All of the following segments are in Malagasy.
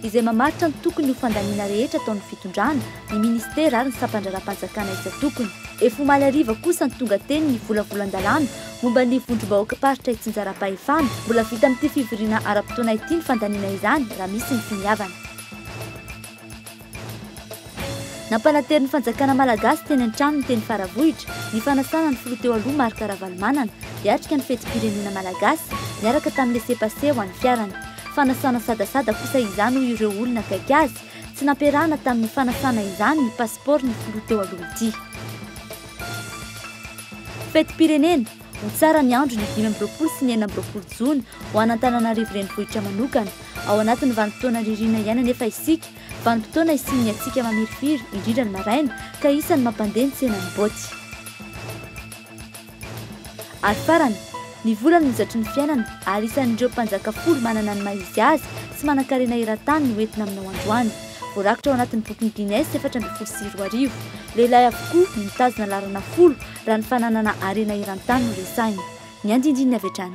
izay mamaritra ny tokony ho fandaniana rehetra ataon'ny fitondrana, ny minisitera ary ny sampandraharaham-panjakana isan-tokony. Efa omaly hariva kosa no tonga teny ny volavolan-dalàna momba ny vondrom-bahoakam-paritra itsinjaram-pahefana. Mbola vita amin'ity fivoriana ara-potoana ity ny fandaniana izany raha misy ny finiavana. Nampanantero ny fanjakana malagasy teny an-tranony teny Faravohitra ny fanasana ny filoha teo aloha Marc Ravalomanana hiatrika ny fetim-pirenena malagasy niaraka tamin'ny laissez-passer ho an'ny fiarany. Fanasana sadasada kosa izany hoy ireo olona akaiky azy. Tsy nampiarahana tamin'ny fanasana izany ny pasipaoron'ny filoha teo aloha ity. Fetim-pirenena, Ho tsara ny andro ny dimy amby roapolo sy ny enina amby roapolo jona ho an'Antananarivo renivohitra manokana. Ao anatin'ny vanim-potoana ririnina iainana efa isika Vanim-potoana isian'ny hatsiaka mamirifiry, indrindra ny maraina, ka isan'ny mampandeha ny tsenan'ny boty. Ary farany, ny vola no hozatry ny fiainana ary isan'ireo mpanjaka folo manana ny maha-izy azy sy manan-karena eran-tany no entina aminao androany. Voarakitra ao anatin'ny bokin'i Guinness efatra ambin'ny folo sy roa arivo. Lehilahy avokoa no mitazona laharana folo raha ny fananana harena eran-tany no resahina. Ny andindininy avy hatrany.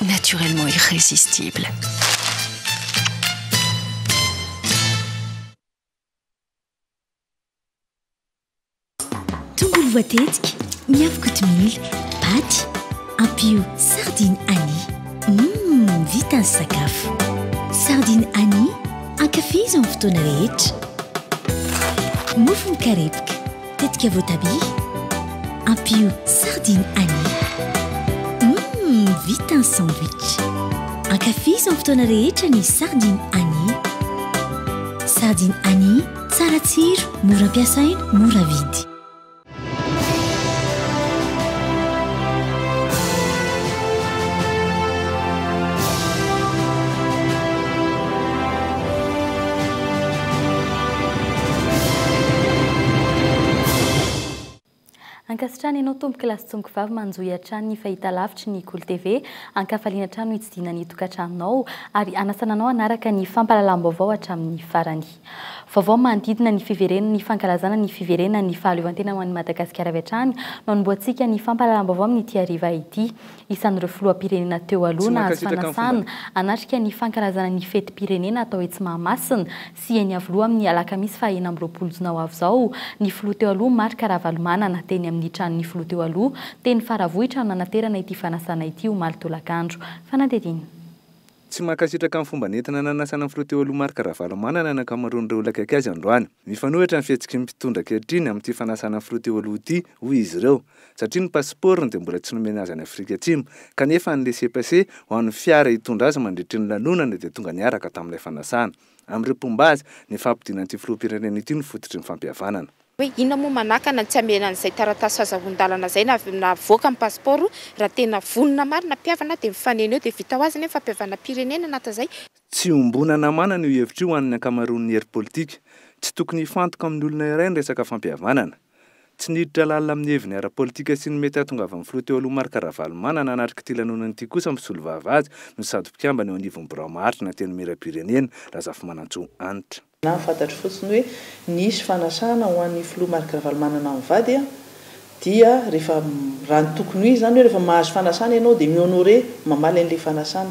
naturellement irrésistible. Tongolo voatetika, miavy kotomila, paty, ampio sardine Annie. Mmm, vita ny sakafo. Sardine Annie, ankafizo amin'ny fotoana rehetra. Mofo mikarepoka. Tetika voatabia, ampio sardine anis. Hum, vita ny sandwich! Ankafizo amin'ny fotoana rehetra ny sardine anis. Sardine anis, tsara tsiro, mora ampiasaina, mora vidy. Ankasitrahana ianao tompoko lahy sy tompoko vavy manjohy hatrany ny fahitalavitry ny Kolo TV. Ankafaliana hatrany no hitsidihina ny tokantranonao ary hanasana anao hanaraka ny fampahalalam-baovao hatramin'ny farany. Vaovao manodidina ny fiverenana ny fankalazana ny fiverenana ny fahaleovantena ho an'i Madagasikara avy hatrany no hanombohantsika ny fampahalalam-baovao amin'ity hariva ity. Isan'ireo filoham-pirenena teo aloha nahazo fanasana hanatrika ny fankalazana ny fetim-pirenena atao etsy Mahamasina sy eny Iavoloha amin'ny alakamisy faha enina amby roapolo jona ho avy izao, ny filoha teo aloha Marc Ravalomanana teny amin'ny tranon'ny filoha teo aloha teny Faravohitra no nanaterana ity fanasana ity omaly tolakandro. Fanadihadiana. Tsy mankasitraka ny fomba nentina nanasana ny filoha teo aloha Marc Ravalomanana ny ankamaroan'ireo olona akaiky azy androany. Mifanohitra ny fihetsiky ny mpitondra ankehitriny amin'ity fanasana ny filoha teo aloha ity hoy izy ireo, satria ny pasipaorony dia mbola tsy nomena azy any Afrika Atsimo, kanefa ny laissez-passer ho an'ny fiara hitondra azy mandritry ny lanonana dia tonga niaraka tamin'ilay fanasana. Amin'ireo mpomba azy, ny fampodiana an'ity filoham-pirenena ity no fototry ny fampihavanana. Hoe inona moa manakana ny tsy hamehana an'izay taratasy fahazahon-dalana izay na avoaka ny pasipaoro raha tena vonona marina hampihavana dia mifanena eo dia vita ho azy anie ny fampihavanam-pirenena na tazay. Tsy iombonana manana io hevitra io ho an'ny ankamaroan'ny hery politika. Tsy tokony hifantoka amin'ny olona iray ny resaka fampihavanana. Tsy niditra lalina amin'ny heviny ara-politika sy ny mety hahatongavan'ny filoha teo aloha Marc Ravalomanana hanatrika ity lanonana ity kosa ny mpisolovava azy no sady mpikambana eo anivon'ny birao maharitra ny Antenimierampirenena, Razafimanantsoa Hanitra. Na fantatro fotsiny hoe nisy fanasana ho an'ny filoha Marc Ravalomanana mivady dia rehefa, raha ny tokony ho izy izany hoe rehefa mahazo fanasana ianao dia mi-honorer, mamaly an'ilay fanasana.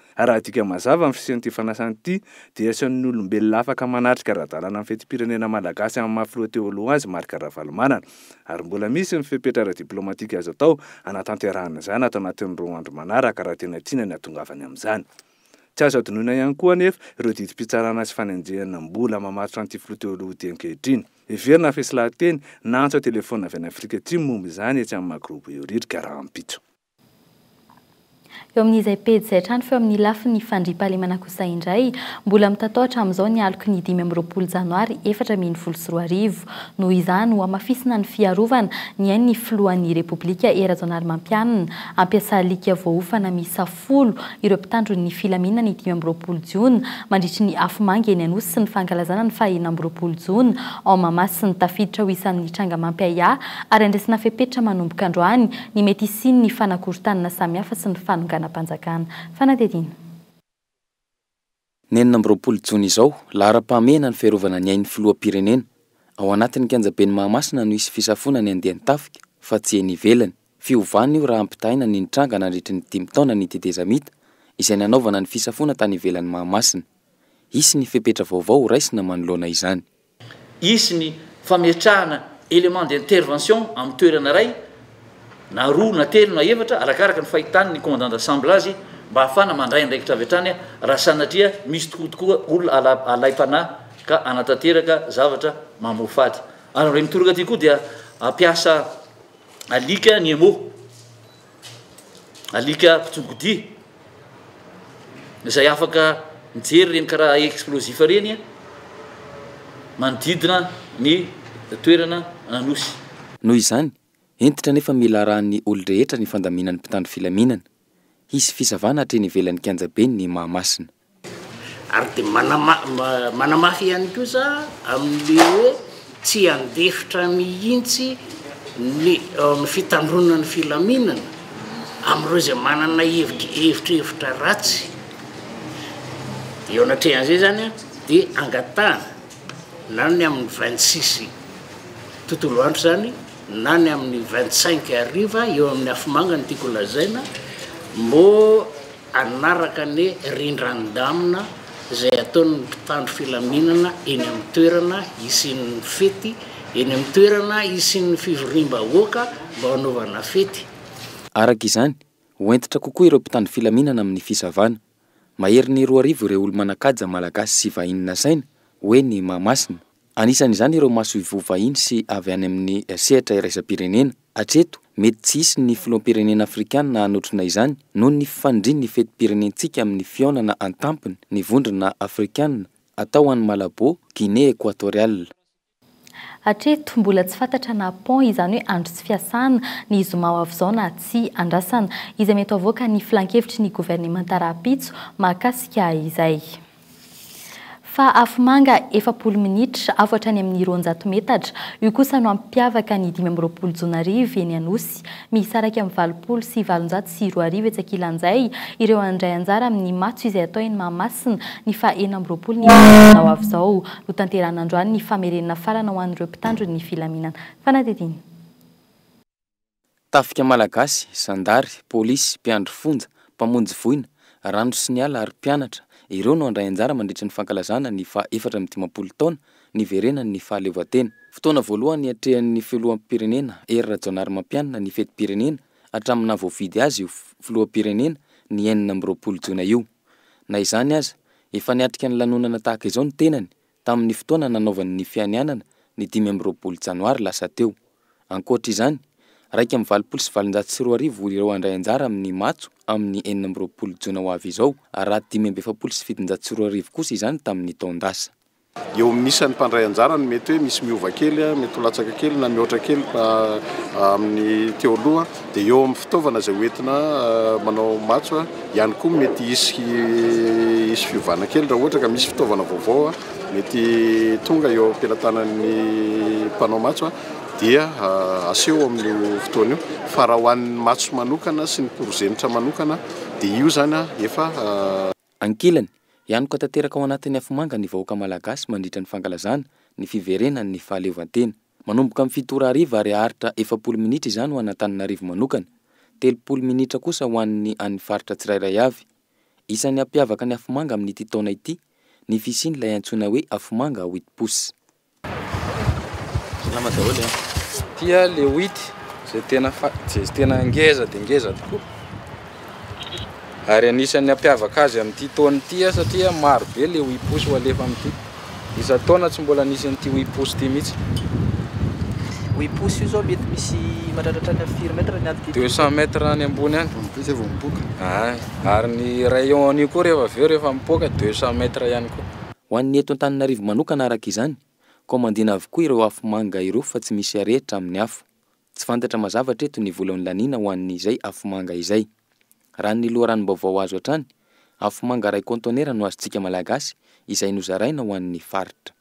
Raha adika mazava ny fisian'ity fanasana ity dia asehoan'ny olombelona afaka manatrika ara-dalàna ny fetim-pirenena malagasy amin'ny maha filoha teo aloha azy Marc Ravalomanana. Ary mbola misy ny fepetra ara-diplaomatika azo atao hanatanterahana izany ato anatin'ny roa andro manaraka raha tena tiana ny hahatongavany amin'izany. Tsy azo hadinoina ihany koa anefa ireo didim-pitsarana sy fanenjehana mbola mamatotra an'ity filoha teo aloha ity ankehitriny. Heverina fa hisy lahateny na antso an-telefaonina avy any Afrika Atsimo momba izany etsy amin'ny maha-Groupe Euridica rahampitso. Eo amin'izay pejy izay hatrany fa eo amin'ny lafiny fandriampahalemana kosa indray, mbola mitatao hatramin'izao ny aloky ny dimy amby roapolo janoary efatra ambin'ny folo sy roa arivo. Noho izany, hohamafisina ny fiarovana, ny ain'ny filohan'ny Repoblika Hery Rajaonarimampianina, hampiasa alika voaofana miisa folo ireo mpitandro ny filaminana ny dimy amby roapolo jona mandritry ny afomanga eny Anosy sy ny fankalazana ny faha enina amby roapolo jona ao Mahamasina. Tafiditra ho isan'ny tranga mampiahiahy ary handresena fepetra manomboka androany ny mety hisian'ny fanakorontanana samihafa sy ny fanonganam-panjakana. Fanadihadiana. Ny enina amby roapolo jona izao, laharam-pahamehana ny fiarovana ny ain'ny filoham-pirenena. Ao anatin'ny kianjaben'i Mahamasina no hisy fisafoana ny andian-tafika, fa tsy eny ivelany. Fiovana io raha ampitahaina ny nitranga nandritry ny dimy taona ny tetezamita, izay nanaovana ny fisafoana tany ivelan'i Mahamasina. Hisy ny fepetra vaovao horaisina manoloana izany. Hisy ny fametrahana élément d'intervention amin'ny toerana iray na roa na telo na efatra arakaraka ny fahitan' ny commandant d'ensemble azy mba ahafahana mandray andraikitra avy hatrany raha sanatria misy tokoa tokoa olona alaim-panahy ka hanatanteraka zavatra mamoafady. Ary amin'ireny toraka ity koa dia hampiasa alika ny emo. Alika mpitsogodia izay afaka mijery ireny karaha explosif ireny manodidina ny toerana Anosy. Noho izany, hentitra nefa mila arahan'ny olon-drehetra ny fandaminan'ny mpitandro filaminana. Hisy fisavana hatreny ivelan'ny kianjaben'ny Mahamasina. Ary dia manamafy ihany koa za amin'ny hoe tsy handefitra mihitsy ny fitandroanan'ny filaminana amin'ireo izay manana evitrevitra ratsy. Eo anatrehan'izay izany dia angatahana na ny amin'ny vingt six tontolo andro izany na ny amin'ny vingt cinq hariva eo amin'ny afomanga no tiako lazaina moa hanaraka ny rindran-damina izay ataon'ny mpitandro filaminana eny amin'ny toerana hisian'ny fety, eny amin'ny toerana hisian'ny fivoriam-bahoaka mba hanaovana fety. Araka izany, ho hentitra kokoa ireo mpitandro filaminana amin'ny fisavana. Maherin'ny roa arivo ireo olo-manan-kaja malagasy sy vahiny nasaina, hoy ny Mahamasina. Anisan'izany ireo masoivoho vahiny sy avy any amin'ny sehatra iraisam-pirenena. Hatreto, mety tsy hisy ny filoham-pirenena afrikana hanotrona izany noho ny fifandrin'ny fetim-pirenentsika amin'ny fihaonana an-tampony ny Vondrona afrikana atao ho any Malabo, Guinée Equatoriale. Hatreto, mbola tsy fantatra na pont, izany hoe andro tsy fiasana, ny zoma ho avy izao na tsia. Andrasana izay mety ho avoaka ny filankevitry ny governemanta rahampitso mahakasika izay. Fa afomanga efapolo minitra, avo hatrany amin'ny roanjato metatra, io kosa no hampiavaka ny dimy amby roapolo jona hariva eny Anosy. Misaraka amin'ny valopolo sy valonjato sy roa arivo etsy ankilan'izay ireo handray anjara amin'ny matso izay hatao eny Mahamasina ny faha enina amby roapolo ny volana ho avy izao. Notanterahina androany ny famerenana farana ho an'ireo mpitandro ny filaminana. Fanadihadiana. Tafika malagasy, zandary, polisy, mpiandry fonja, mpamonjy voina, rano sy ny ala ary mpianatra, ireo no handray anjara mandritra ny fankalazana ny faha efatra amby dimampolo taona niverenan'ny fahaleovantena. Fotoana voalohany niatrehan'ny filoham-pirenena Hery Rajaonarimampianina ny fetim-pirenena hatramin'ny naha voafidy azy ho filoham-pirenena ny enina amby roapolo jona io. Na izany aza, efa niatrika ny lanonana tahaka izao ny tenany tamin'ny fotoana nanaovany ny fianianana ny dimy amby roapolo janoary lasa teo. Ankoatra izany, iraika amby valopolo sy valonjato sy roa arivo ireo handray anjara amin'ny matso amin'ny enina amby roapolo jona ho avy izao, ary raha dimy amby efapolo sy fitonjato sy roa arivo kosa izany tamin'ny taon-dasa. Eo amin'ny isan'ny mpandray anjara no mety hoe misy miova kely, mety ho latsaka kely na mihoatra kely amin'ny teo aloha. Dia eo amin'ny fitaovana izay hoentina manao matso ihany koa mety hisy hisy fiovana kely raha ohatra ka misy fitaovana vaovao mety tonga eo am-pelatanan'ny mpanao matso dia aseho amin'io fotoana io fa raha ho an'ny matso manokana sy ny porozenitra manokana dia io izany efa Ankilany, hianoka tanteraka ao anatin'ny afomanga ny vahoaka malagasy mandritra ny fankalazana ny fiverenan'ny fahaleovantena. Manomboka amin'ny fito ora hariva ary haharitra efapolo minitra izany ho an'Antananarivo manokana, telopolo minitra kosa ho an'ny an'ny faritra tsirairay avy. Isan'ny hampiavaka ny afomanga amin'ity taona ity ny fisian'ilay antsoina hoe afomanga wheat pousse. Salama daholo a! Ity a le wheat izay tena fa izay tena ngeza dia ngeza tokoa. Ary anisan'ny hampiavaka azy amin'ity taona ity aho satria maro be ilay oiposy ho alefa amin'ity. Isan-taona tsy mbola nisy an'ity oiposy ity mihitsy. Oiposy io zao mety misy mahatratra hatrany firy mètre ny aty? 200 mètre any ambony any. Vao mipy izay vao mipoaka. Ay, ary ny rayon-n'io koa rehefa avy eo rehefa mipoaka 200 mètre ihany koa. Ho an'ny eto Antananarivo manokana araka izany, kaomandina avokoa ireo afo manga ireo fa tsy misy arehitra amin'ny afo. Tsy fantatra mazava hatreto ny vola nolaniana ho an'izay afomanga izay. Raha ny loharanom-baovao azo hatrany, afomanga iray kaontaonera no azontsika Malagasy izay nozaraina ho an'ny faritra.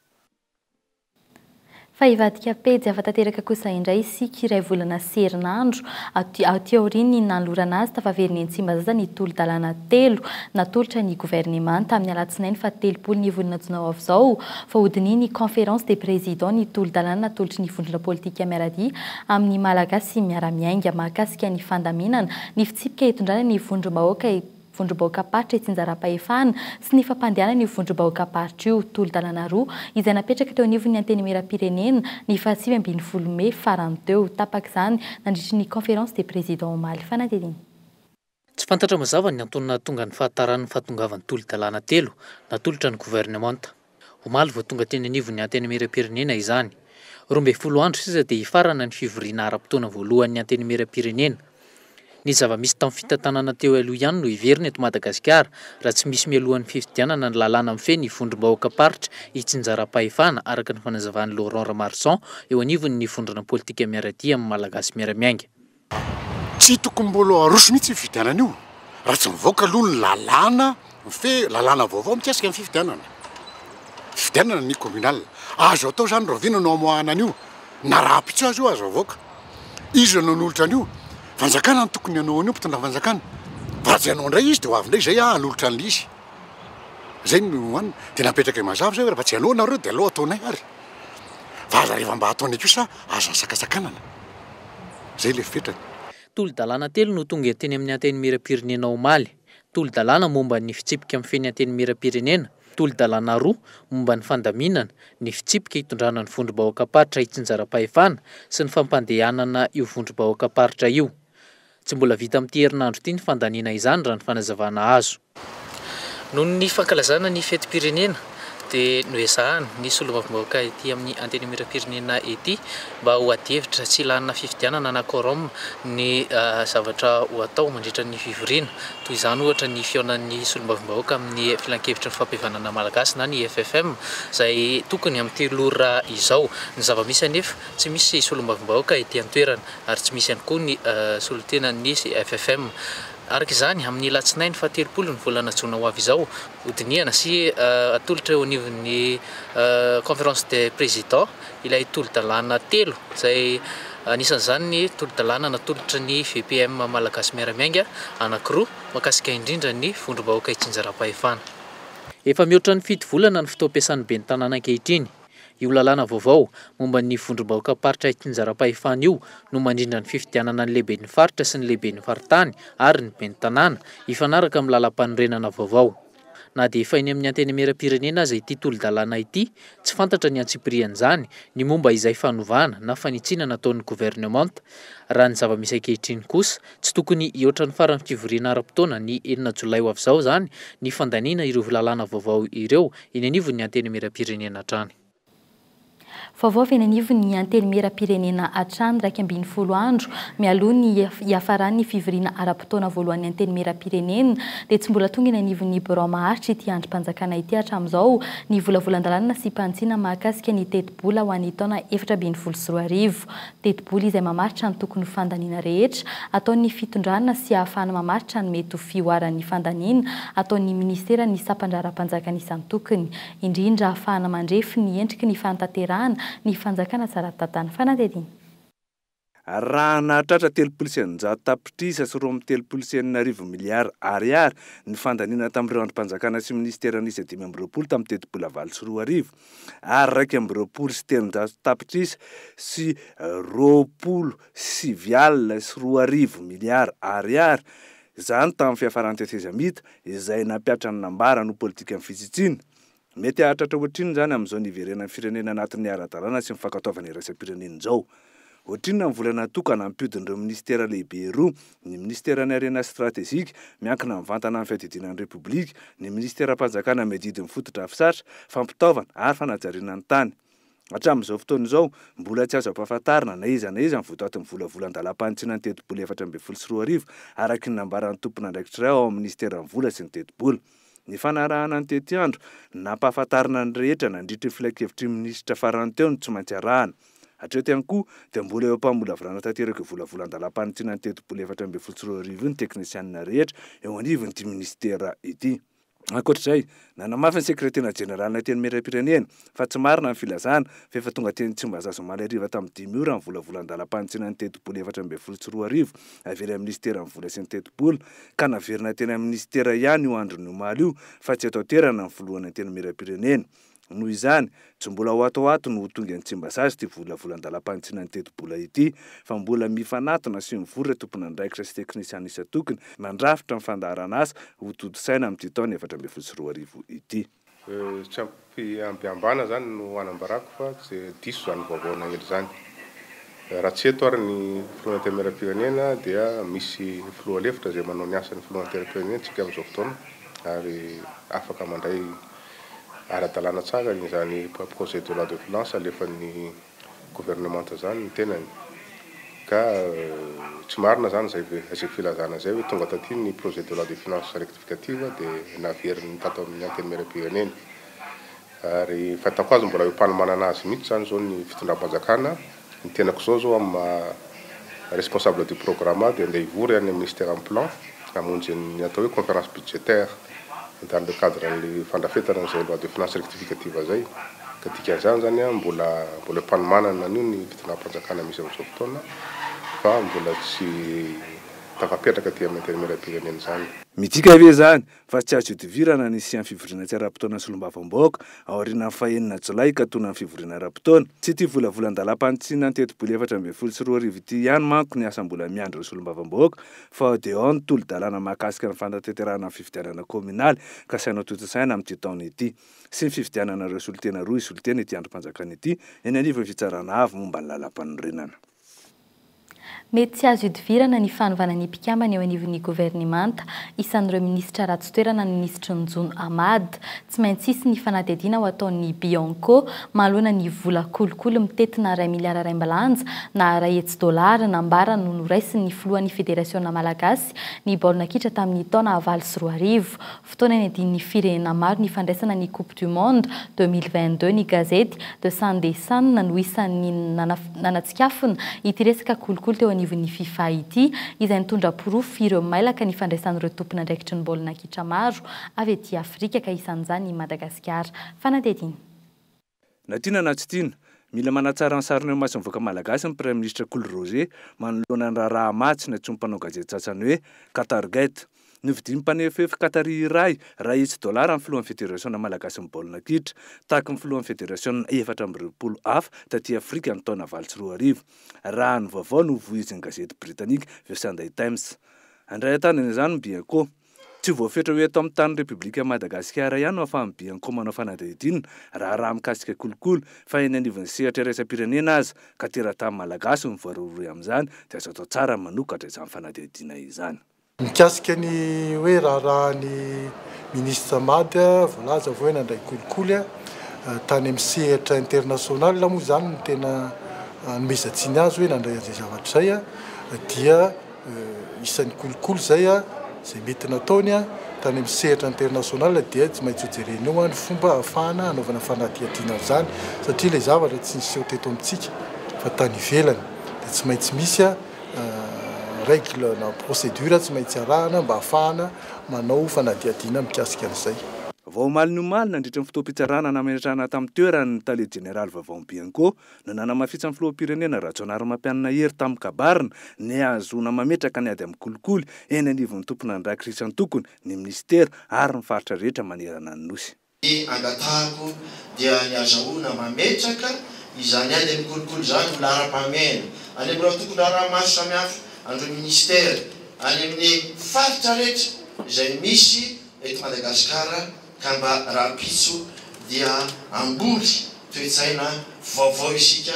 Fa hivadika pejy hafa tanteraka kosa indray isika iray volana sy herinandro aty aorian'ny nanolorana azy tafaverina eny Tsimbazaza ny tolo-dalàna telo natolotra ny governemanta tamin'ny alatsinainy faha telopolo ny volana jona ho avy izao, fa hodinihin'ny Conférence des Présidents ny tolo-dalàna natolotry ny vondrona politika miara-dia amin'ny Malagasy miara-miainga mahakasika ny fandaminana ny fitsipika hitondrana ny vondrom-bahoaka vondrom-bahoakam-paritra itsinjaram-pahefahana sy ny fampandehanana io vondrom-bahoakam-paritra io, tolo-dalàna roa izay napetraka teo anivon'ny Antenimieram-pirenena ny faha sivy ambin'ny folo mey farany teo. Tapaka izany nandritry ny Conférence des Présidents omaly. Fanadihadiana. Tsy fantatra mazava ny antony nahatonga ny fahataran'ny fahatongavan'ny tolo-dalàna telo natolotra ny governemanta, omaly vao tonga teny anivon'ny Antenimierampirenena izany. Roa ambin'ny folo andro sisa dia hifarana ny fivoriana ara-potoana voalohan'ny Antenimierampirenena. Ny zava-misy tamin'ny fitantanana teo aloha ihany no hiverina eto Madagasikara raha tsy misy mialohan'ny fifidianana ny lalàna mifehy ny vondrom-bahoakam-paritra itsinjaram-pahefana, araka ny fanazavan'i Laurent Ramarison eo anivon'ny Vondrona Politika Miara-dia amin'ny Malagasy Miara-miainga. Tsy tokony mbolo aroso mihitsy io fifidianana io raha tsy mivoaka aloha ny lalàna mifehy, lalàna vaovao mikasika ny fifidianana. Fifidianana ny communal. Azo atao izany rahoviana no amoahana an'io? Na raha ampitso aza io aza avoaka. Iza no hanolotra an'io? Fanjakana no tokony hanao an'io, mpitondra fanjakana. Raha tsy hanao indray izy dia ho avy indray izay anolotra an'ilay izy. Zay no an, dia napetraka mazava zay hoe raha tsy aleo nareo dia aleo ataonay ary fa aza reva mba ataonay kosa aza sakasakanana. Zay le fetrany. Tolo-dalàna telo no tonga teny amin'ny Antenimierampirenena omaly. Tolo-dalàna momba ny fitsipika mifehy ny Antenimierampirenena, tolo-dalàna roa momba ny fandaminana, ny fitsipika hitondrana ny vondrom-bahoakam-paritra itsinjaram-pahefana sy ny fampandehanana io vondrom-bahoakam-paritra io. Tsy mbola vita amin'ity herinandro ity ny fandaniana izany raha ny fanazavana azo. Noho ny fankalazana ny fetim-pirenena dia noezahana ny solombavambahoaka ety amin'ny antenimieram-pirenena ety mba ho adihevitra tsy làna fifidianana na quorum ny zavatra ho atao mandritra ny fivoriana. Toy izany ohatra ny fihaonan'ny solombavambahoaka amin'ny Filankevitry ny Fampihavanana Malagasy na ny FFM izay tokony amin'ny telo ora izao. Ny zava-misy anefa tsy misy solombavambahoaka ety an-toerana. ary tsy misy ihany koa ny solontenan'ny CFFM. Araka izany, amin'ny alatsinainy fahatelopolo ny volana jona ho avy izao, hodinihana sy hatolotra eo anivon'ny Conférence des Présidents ilay tolo-dalàna telo izay anisan'izany ny tolo-dalàna natolotry ny VPM malagasy miara-miainga anankiroa mahakasika indrindra ny vondrom-bahoaka itsinjaram-pahefana. Efa mihoatra ny fito volana ny fotoam-piasan'ny ben'ny tanàna ankehitriny. Io lalàna vaovao momba ny vondrom-bahoakam-paritra itsinjaram-pahefana io no mandrindra ny fifidianana ny lehiben'ny faritra sy ny lehiben'ny faritany ary ny ben'ny tanàna, hifanaraka amin'ny lalàmpanorenana vaovao. Na dia efa eny amin'ny Antenimierampirenena aza ity tolo-dalàna ity, tsy fantatra ny antsipirian'izany ny momba izay fanovana na fanitsiana nataon'ny governemanta. Raha ny zava-misy ankehitriny kosa, Tsy tokony hihoatra ny faran'ny fivoriana ara-potoana ny enina jolay ho avy izao izany ny fandaniana ireo lalàna vaovao ireo eny anivon'ny Antenimierampirenena hatrany. Vaovao avy eny anivon'ny Antenimierampirenena hatrany iraika ambin'ny folo andro mialoha ny hiafaran'ny fivoriana ara-potoana voalohan'ny Antenimierampirenena dia tsy mbola tonga eny anivon'ny birao maharitra ity andrim-panjakana ity hatramin'izao ny volavolan-dalàna sy mpantsina mahakasika ny tetibola ho an'ny taona efatra ambin'ny folo sy roa arivo Tetibola izay mamaritra ny tokony ho fandaniana rehetra ataon'ny fitondrana sy ahafahana mamaritra ny mety ho fihoaran'ny fandaniana ataon'ny minisiteran'ny sampandraharam-panjakana isan-tokony, indrindra ahafahana mandrefy ny endriky ny fanatanterahana ny fanjakana tsara tantan'ny fanadihadiana. Raha nahatratra telopolo sy eninjato tapitrisa sy roa amby telopolo sy enina arivo miliara Ariary ny fandaniana tamin'ireo andrim-panjakana sy minisitera niisa dimy amby roapolo tamin'ny tetibola valo sy roa arivo, ary iraika amby roapolo sy telonjato tapitrisa sy roapolo sy sivy alina sy roa arivo miliara Ariary, izany tamin'ny fiafaran'ny tetezamita, izay nampiatra ny nambarany ho politikan'ny fitsitsiana. Mety hahatratra ohatrinona izany amin'izao niverenan'ny firenena anatin'ny ara-dalàna sy ny fankatoavana iraisam-pirenena izao? Ohatrinona ny vola natokana hampihodin'ireo minisitera lehibe roa, ny minisiteran'ny Harena Stratejika, miankina mivantana amin'ny fiadidiana ny Repoblika, ny minisiteram-panjakana miadidy ny fotodrafitrasa, fampitaovana ary fanajariana ny tany. Hatramin'izao fotoana izao, mbola tsy azo ampahafantarina na iza na iza ny votoatin'ny volavola an-dalam-panitsiana ny tetibola efatra ambin'ny folo sy roa arivo, araka ny nambaran'ny tompon'andraikitra iray ao amin'ny minisiteran'ny Vola sy ny tetibola. Nifanarahana ny tetiandro, nampahafantarina ny rehetra nandritry ny filankevitry ny minisitra farany teo ny tsy maintsy arahana. Hatreo ty ihany koa dia mbola eo am-pamolavolana tanteraka io volavolan-dalam-panintsinana ny tetibola efatra ambin'ny folo sy roa arivo io ny teknisianina rehetra eo anivon'ity minisitera ity. Ankoatra izay, nanamafy ny sekretera jeneralin'ny Antenimierampirenena fa tsy marina ny filazana fa efa tonga teny Tsimbazaza omaly hariva tamin'ny dimy ora ny volavolan-dalam-panintsinana ny tetibola efatra ambin'ny folo sy roa arivo avy eny amin'ny minisiteran'ny vola sy ny tetibola ka naverina teny amin'ny minisitera ihany io andron'ny omaly io fa tsy eto an-toerana ny filohan'ny Antenimierampirenena Noho izany, tsy mbola ho ato ho ato no ho tonga any Tsimbazaza ity volavolan-dalam-panitsiana ny tetibola ity, fa mbola mifanatona sy mivory ireo tompon'andraikitra sy teknisiana isan-tokony nandrafitra ny fandaharan'asa ho tontosaina amin'ity taona efatra ambin'ny folo sy roa arivo ity. Tsy ampiambana izany no anambarako fa tsy diso izany vaovao naely izany. Raha tsy eto ary ny Filoha Antenimierampirenena dia misy Filoha lefitra izay manao ny asan'ny Filoha Antenimierampirenentsika amin'izao fotoana ary afaka mandray ara-dalàna tsara izany projet de loi de finances alefan'ny gouvernemanta izany ny tenany ka tsy marina izany izay filazana izay hoe tonga taty ny projet de loi de finances rectificative dia naveriny tato amin'ny antenimieram-pirenena ary ny fahitako azy mbola eo am-panomanana azy mihitsy izany izao ny fitondram-panjakana Ny tenako zao zao amin'ny maha responsable du programme ahy dia andeha hivory any amin'ny ministeran'ny plan hamonjy ny atao hoe conférence budgétaire dans le cadre an'ilay fandrafetana an'izay loi de finances rectificative zay ka dikan'izany zany an mbola mbola eo am-panomanana an'io ny fitondram-panjakana misy amin'izao fotoana fa mbola tsy tafapetraka aty amin'ny intérimaire am-pirenena izany. Midika ve izany fa tsy azo ihodivirana ny hisian'ny fivoriana tsy ara-potoanan'ny solombavambahoaka aorianan'ny faha enina jolay ka tonan'ny fivoriana ara-potoana. Tsy ity volavolan-dalam-panitsiana an-tetiboly efatra ambin'ny folo sy roa arivo ity ihany manko ny asa mbola miandry ireo solombavambahoaka fa ao dia ao ny tolo-dalàna mahakasika ny fanatanterahana ny fifidianana kaominaly kasaina hotontosaina amin'ity taona ity sy ny fifidianana ireo solontena roa hisolo-tena ity andrim-panjakana ity eny anivon'ny Fitsarana Avo momba ny Lalàmpanorenana. Mety tsy azo ihodivirana ny fanovana ny mpikambana eo anivon'ny governemanta. Isan'ireo minisitra ratsy toerana ny minisitry ny Jono Ahmad. Tsy maintsy hisy ny fanadihadiana ho ataon'ny Bianco manoloana ny vola kolikoly mitentina iray miliara raimbilanja na iray hetsy dolara nambarany ho noraisin'ny filohan'ny federasiona malagasy ny baolina kitra tamin'ny taona valo sy roa arivo. Fotoana niadian'ny firenena maro ny fandraisana ny Coupe du Monde deux mille vingt-deux, ny gazety The Sunday Sun no isan'ny nanatsikafona ity resaka kolikoly teo anivon'ny Fifa ity, izay nitondra porofo ireo mailaka ny fandraisan'ireo tompon'andraikitry ny baolina kitra maro avy aty Afrika ka isan'izany i Madagasikara. Fanadihadiana. Na tiana na tsy tiana, mila manatsara ny sariny eo imason'ny vahoaka malagasy ny Praiminisitra Kolo Roger manoloana ny raharaha maha tsy nantsoin'ny mpanao gazety sasany hoe Qatargate. Novidian'ny mpanefoefo Qatari iray iray hetsy dolara ny filohan'ny Federasiona malagasin'ny baolina kitra, tahaka ny filohan'ny federasiona efatra amby roapolo hafa taty Afrika ny taona valo sy roa arivo, raha ny vaovao novoizin'ny gazety Britanika The Sunday Times. Handray an-tanana izany ny Bianco. Tsy voafetra ho eto amin'ny tanin'ny Repoblikan'i Madagasikara ihany no ahafahan'ny Bianco manao fanadihadiana raharaha mikasika kolikoly fa eny anivon'ny sehatra iraisam-pirenena aza ka teratany malagasy no voarohirohy amin'izany dia azo atao tsara ny manokatra izany fanadihadiana izany. Mikasika ny hoe raharahan'ny Minisitra Mada, voalaza fa hoe nandray kolikoly tany amin'ny sehatra international moa izany no tena anomezan-tsiny azy hoe nandray an'izay zavatra izay dia isan'ny kolikoly izay izay mety nataony tany amin'ny sehatra international dia tsy maintsy hojerena eo ny fomba ahafahana hanaovana fanadihadiana an'izany satria ilay zavatra tsy niseho teto amintsika fa tany ivelany dia tsy maintsy misy règle na procédure tsy maintsy arahana mba ahafahana manao fanadihadiana mikasika an'izay. Vao omaly ny omaly, nandritra ny fotoam-pitsarana nametrahana tamin'ny toerany ny tale jeneraly vaovao ny Bianco, no nanamafisany filoham-pirenena Rajaonarimampianina Hery tamin'ny kabarina ny hahazoana mametraka ny ady amin'ny kolikoly eny anivon'ny tompon'andraikrisy antokony, ny minisitera ary ny faritra rehetra manerana ny Nosy. Ny angatahako dia ny hazahoana mametraka izany ady amin'ny kolikoly izany ho laharam-pahamehana any amin'ireo antokondraharaha maro samihafa, an'ireo minisitera, any amin'ny faritra rehetra izay misy eto Madagasikara. Ka mba rahampitso dia hamboly toe-tsaina vaovao isika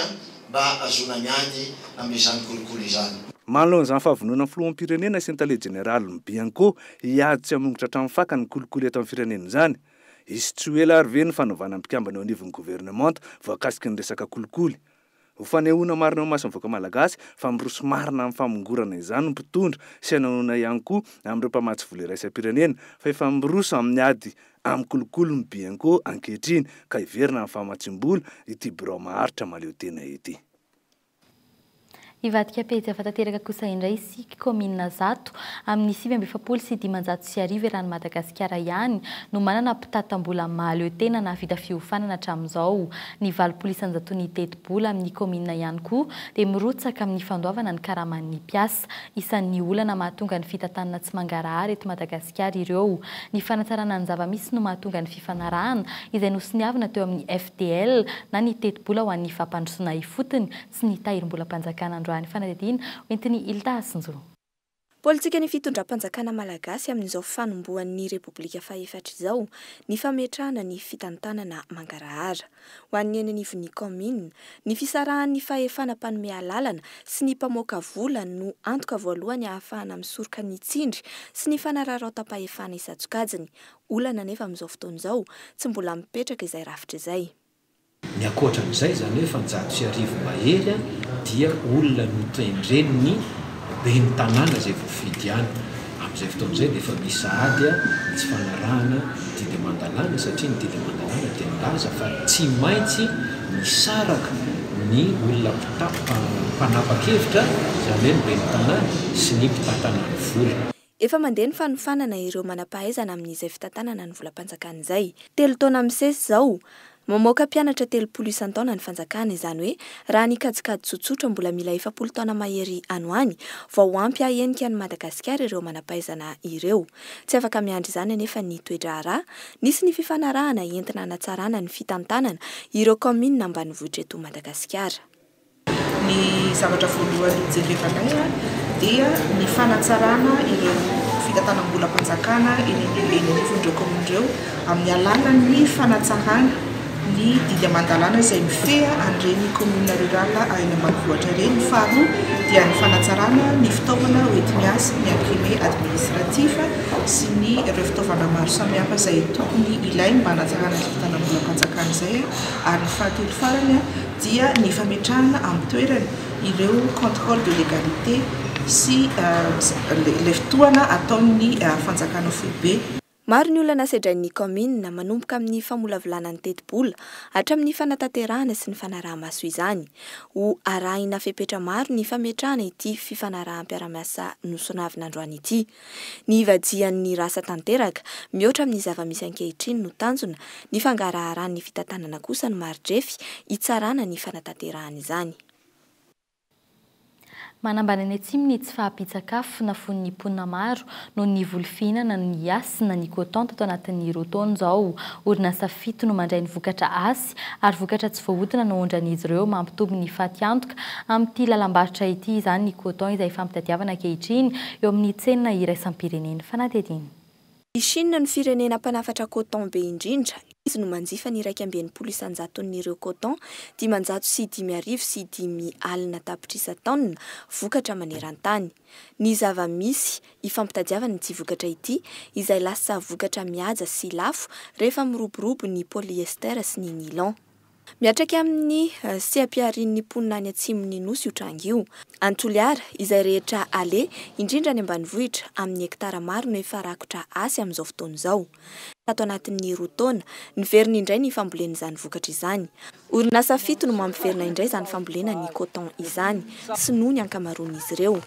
mba hahazoana miady amin'izany kolikoly izany. Manao an'izany fahavononan'ny Filoham-pirenena sy ny Tale Jeneralin'ny Bianco hiady sy hamongotra hatramin'ny fakany ny kolikoly eto amin'ny firenena izany. Hisy tsy ho ela ary ve ny fanovana ny mpikambana eo anivon'ny governemanta voakasiky ny resaka kolikoly? Ho fanehoana marina eo imason'ny vahoaka malagasy fa miroso marina amin'ny famongorana izany ny mpitondra sy hanahoana ihany koa amin'ireo mpamatsy vola iraisam-pirenena fa efa miroso amin'ny ady amin'ny kolikoly ny Bianco ankehitriny ka hiverina amin'ny famatsiam-bola ity birao maharitra mahaleotena ity. Hivadika pejy hafa tanteraka kosa indray isika. Tsiky, kaominina zato, amin'ny sivy amby efapolo sy dimanjato sy arivo eran'i Madagasikara ihany no manana mpitati-tambola mahaleo tena nahavita fiofanana hatramin'izao. Ny valopolo isanjaton'ny tetibola amin'ny kaominina ihany koa dia mirotsaka amin'ny fandoavana ny karaman'ny mpiasa. Isan'ny olana mahatonga ny fitantanana tsy mangarahara eto Madagasikara ireo. Ny fanatsarana ny zava-misy no mahatonga ny fifanarahana izay nosoniavina teo amin'ny FDL na ny tetibola ho an'ny fampandrosoana ifotony, sy ny Tahirimbolam-panjakana androany fanadihadiana ho entin'i Ilta Asinjo. Politikan'ny fitondram-panjakana malagasy amin'izao fanombohan'ny Repoblika fahefatra izao ny fametrahana ny fitantanana mangarahara, ho an'ny eny anivon'ny kaominina, ny fisarahan'ny fahefana mpanome alalana sy ny mpamoaka vola no antoka voalohany ahafahana misoroka ny tsindry sy ny fanararaotam-pahefana isan-tsokajiny, olana anefa amin'izao fotoana izao tsy mbola mipetraka izay rafitra izay. Ny ankoatra an'izay izany hoe efajato sy arivo mahery dia olona notendren'ny ben'ny tanàna izay voafidy ihany. Amin'izay fotoana izay dia efa misy sahady ny tsy fanarahana ny didy aman-dalàna satria ny didy aman-dalàna dia milaza fa tsy maintsy misaraka ny olona mpanapa-kevitra izany hoe ny ben'ny tanàna sy ny mpitantanà ny vola. Efa mandeha ny fanofanana ireo manam-pahaizana amin'izay fitantanana ny volam-panjakana izay. Telo taona misesy izao, mamoaka mpianatra telopolo isan-taona ny fanjakana, izany hoe raha ny kajikajy tsotsotra mbola mila efapolo taona mahery any ho any vao ho ampy hahenika an'i Madagasikara ireo manam-pahaizana ireo. Tsy afaka miandry izany anefa ny toe-draharaha, nisy ny fifanarahana entina hanatsarana ny fitantanana ireo kaominina ambanivohitra eto Madagasikara. Ny zavatra voalohany hojerevanay dia ny fanatsarana ireo fitantanam-bolam-panjakana eny anivon'ireo kaominina ireo amin'ny alalan'ny fanatsarana ny didy aman-dalàna izay mifehy an'ireny kaominina rurales any ambanivohitra ireny. Ny faharoa dia ny fanatsarana ny fitaovana hoenti-miasa, ny imprimé administratif sy ny ireo fitaovana maro samihafa izay tokony ilaina mba hanatsarana izay fitantanam-bolam-panjakana izay ary ny fahatelo farany dia ny fametrahana amin'ny toerany ireo contrôle de légalité sy ilay fitohana ataon'ny fanjakana foibe. Maro ny olana sedrain'ny kaominina, manomboka amin'ny famolavolana ny tetibola, hatramin'ny fanatanterahana sy ny fanaraha-maso izany. Ho arahina fepetra maro ny fametrahana ity fifanaraham-piarahamiasa nosonavina androany ity. Ny hivajian' ny rasa tanteraka, mihoatra amin' ny zava-misy ankehitriny, no tanjona, ny fangaraharan' ny fitantanana kosa no mari-drefy hitsarana ny fanatanterahan' izany. Manambany any atsimo ny tsy fahampian-tsakafo nafoan' ny mponina maro noho ny voly fihinana ny Hasina ny Coton tato anatin' ny roa taona izao. Orinasa fito no mandray ny vokatra Hasina. vitsy ary vokatra tsy voahodina no aondran'izy ireo mampitombo ny fatiantoka amin'ity lalam-barotra ity izany ny coton izay fampitadiavana ankehitriny eo amin'ny tsena iraisam-pirenena. Fanadihadiana. I Chine no firenena mpanafatra coton be indrindra, izy no manjifa ny iraika amby enimpolo isan-jaton'ireo coton dimanjato sy dimy arivo sy dimy alina tapitrisa taonina vokatra maneran-tany. ny zava-misy ifampitadiavana ity vokatra ity izay lasa vokatra mihaja sy lafo rehefa miroborobo ny polyester sy ny nylon. Miatraiky amin'ny seha-piharian'ny mponina any atsimon'ny Nosy io tranga io. Any Toliara, izay rehetra aleha, indrindra any ambanivohitra, amin'ny hektara maro no efa rakotra hasy amin'izao fotoana izao. tato anatin'ny roa taona. Niverina indray ny fambolena izany vokatra izany. Orinasa fito no mampiverina indray izany fambolena ny coton izany, sinoa ny ankamaroan'izy ireo.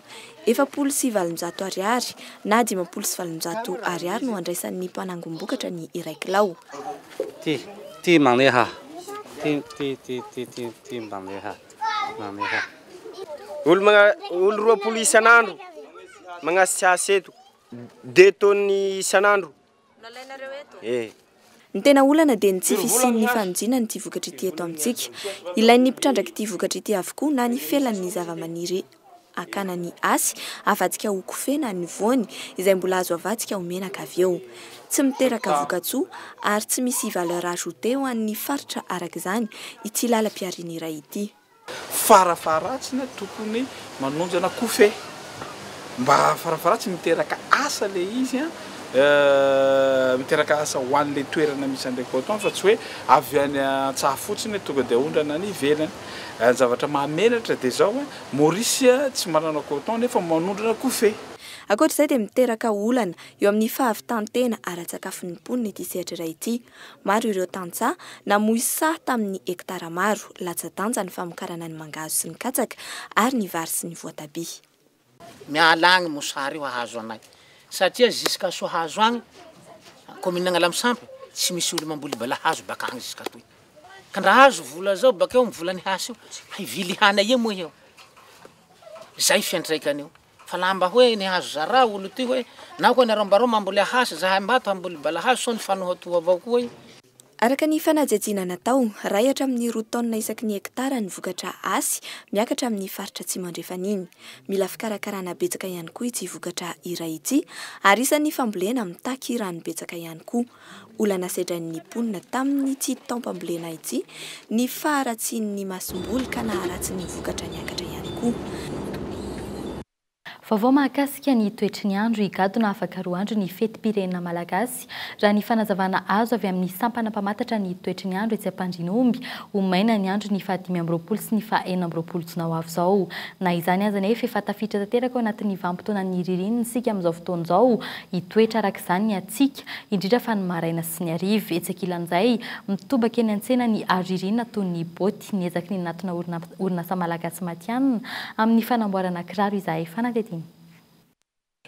Efapolo sy valonjato Ariary na dimampolo sy valonjato Ariary no andraisan'ny mpanangom-bokatra ny iray kilao. Dia toy ny isan'andro. Nalainareo eto? E! Ny tena olana dia ny tsy fisian'ny fanodinana ity vokatra ity eto amintsika. Ilain'ny mpitrandrak'ity vokatra ity avokoa na ny felan'ny zavamaniry akana ny asy avadika ho kofehy na ny voany izay mbola azo avadika ho menaka avy eo. Tsy miteraka vokatsoa ary tsy misy valeur ajoutée ho an'ny faritra araka izany ity lalam-pihariana iray ity. Farafaharatsiny tokony manonjana kofehy mba farafaharatsiny miteraka asa ilay izy an, miteraka asa ho an'ilay toerana misy an'ilay coton fa tsy hoe avy any an-tsaha fotsiny hoe tonga dia aondrana any ivelany. Ny zavatra mahamenatra dia izao an, Maurice tsy manana coton nefa manondrana kofehy. Ankoatra izay dia miteraka olana eo amin'ny fahavitan-tena ara-tsakafon'ny mponina ity sehatra iray ity. Maro ireo tantsaha namoy saha tamin'ny hektara maro, latsa-danja ny famokarana ny mangahazo sy ny katsaka ary ny vary sy ny voatabia. Miala agny mosary io hahazo anay satria jusqu'à sohahazo agny commune Agnalamisampy tsy misy olo mamboly balahazo bakagny jusqu'à toy ka ndra azo vola zao bakeo am vola nihasy io hivily hana ia moa eo zay fiantraikany io. Fa laha mba hoe ny hazo zara olo ty hoe na koa nareo mbarao mamboly ahasy zahay mbato hamboly balahazo sao ny fanohatoha avao koa e. Araka ny fanajajiana natao, ray hatramin'ny roa taonina isaky ny hekitara ny vokatra asy miakatra amin'ny faritra atsimo andrefan'iny. Mila fikarakarana betsaka ihany koa ity vokatra iray ity ary isan'ny fambolena mitaky rano betsaka ihany koa. Olana sedrain'ny mponina tamin'ity taom-pambolena ity ny faharatsian'ny masomboly ka naharatsy ny vokatra niakatra ihany koa. Vaovao mahakasika ny toetry ny andro, Higadona afaka roa andro ny fetim-pirenena malagasy, raha ny fanazavana azo avy amin'ny sampana mpamantatra ny toetry ny andro etsy Ampandrinomby. Ho maina ny andro ny faha dimy amby roapolo sy ny faha enina amby roapolo jona ho avy izao. Na izany aza anefa, efa tafiditra tanteraka ao anatin'ny vanim-potoanan'ny ririnina isika amin'izao fotoana izao. Hitoetra araka izany ny. tsika, indrindra fa ny maraina sy ny hariva. Etsy ankilan'izay, mitobaka eny an-tsena ny aro ririnina toy ny boty. Niezaky ny nanatona orinasa malagasy matihanina amin'ny fanamboarana kiraro izahay fanadihadiana.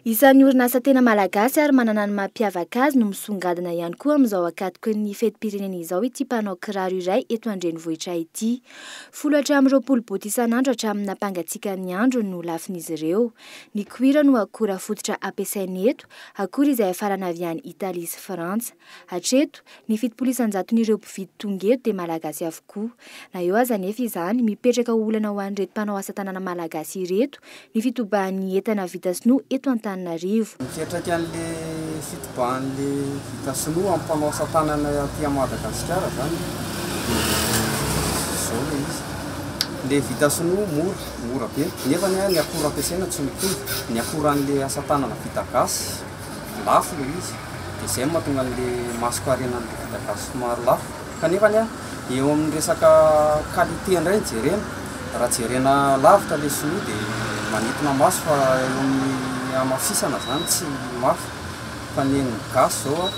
Isan'ny orinasa tena malagasy ary manana ny mampiavaka azy no misongadina ihany koa amin'izao ankatoky ny fetim-pirenena izao ity mpanao kiraro iray eto an-drenivohitra ity. Folo hatramin'ny roapolo boty isan'andro hatramin'ny nampangatsiakan'ny andro no lafin'izy ireo. Ny koira no akora fototra ampiasainy eto akory izay hiafarana avy any Italia sy Frantsa. Hatreto, ny fitopolo isan-jaton'ireo mpividy tonga eto dia Malagasy avokoa. Na eo aza anefa izany, mipetraka ho olana ho an'ireto mpanao asa tanana Malagasy ireto ny fitobahan'ny entana vita sinoa eto Antananarivo. Mipetraka an'ilay fitobahan'ilay vita sinoa amin'ny mpanao asa tanana aty Madagasikara izany dia izao ilay izy, ilay vita sinoa mora. mora be nefa ny akora ampiasaina tsy mitovy, ny akora an'ilay asa tanana vita gasy lafo ilay izy dia izay no mahatonga an'ilay masoko harena an'ilay vita gasy somary lafo kanefa ny eo amin'ny resaka qualité indray no jerena raha jerena lavitra ilay sinoa dia manintona maso fa eo amin'ny hamafisana izany tsy mafy fa ny an'ny gasy izao an,